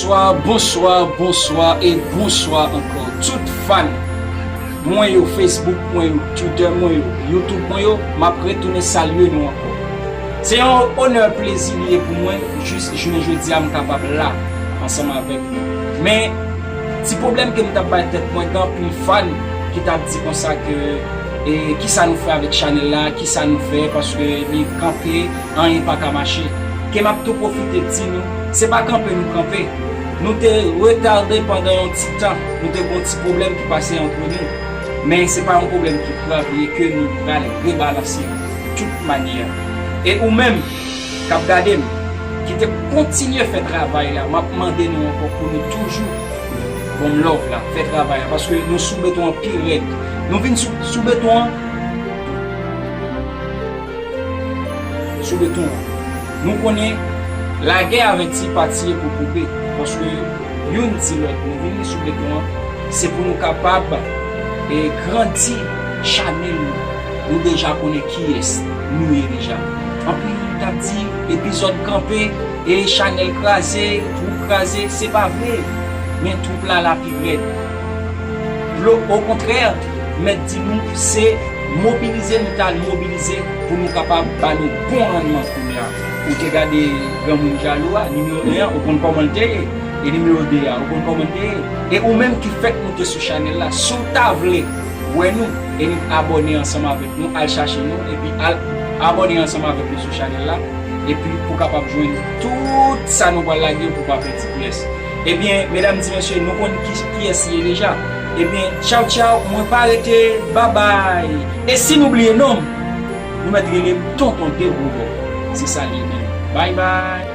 Bonsoir, bonsoir, bonsoir et bonsoir encore tout fan mwen yo Facebook mwen yo Twitter mwen yo Youtube mwen yo map retounen salye nou ankò. Se yon onè plezi li ye pou mwen jis jounen jodi a m kapab la ansanm avèk nou. Men, ti pwoblèm ke m t ap bay tèt mwen gen anpil fan ki t ap di konsa ke e kisa nou fè avèk chanèl la, kisa nou fè paske li kanpe anyen pa ka mache. Ke m ap tou pwofite di nou, se pa kanpe nou kanpe, nou te retarde pandan yon ti tan, nou te gen yon ti pwoblèm ki pase antre nou, men se pa yon pwoblèm ki grav li ye ke nou pral rebalanse. tout manyè. E ou menm kap gade m ki te kontinye fè travay la map mande nou ankò pou nou toujou bon m love la fè travay la paske nou sou beton an pi rèd nou vin sou beton an sou beton an nou konnen lagè avè ti pati e pou koupe paske youn di lòt nou vini sou beton an se pou nou kapab e grandi chanèl nou. Nou deja konnen kiyès Nou ye deja anpil moun tap di epizòd kanpe e chanèl kraze twoup kraze se pa vre men twoup la la pi rèd blo okontrè mèt di nou se mobilize nou tal mobilize pou nou kapab ba nou bon rannman kounya ou te gade granmoun jalou a nimewo 1 an ou konn kòmanl te ye e nimewo 2 a ou konn kòmanl te ye e ou menm ki fèk moute sou chanèl la si w ta vle Wè nou e nou k abòne ansanm avèk nou al chache nou epi al Abòne ansanm avèk nou sou chanèl la epi pou kapab jwenn tout sa nou pral lage pou pa pèdi pyès ebyen medam ti mesye nou konn kiyès ye deja ebyen tchaw tchaw mwen pa rete babay e si nou bliye nonm nou mèt relem tonton de roubò se sa liye menm bay bay.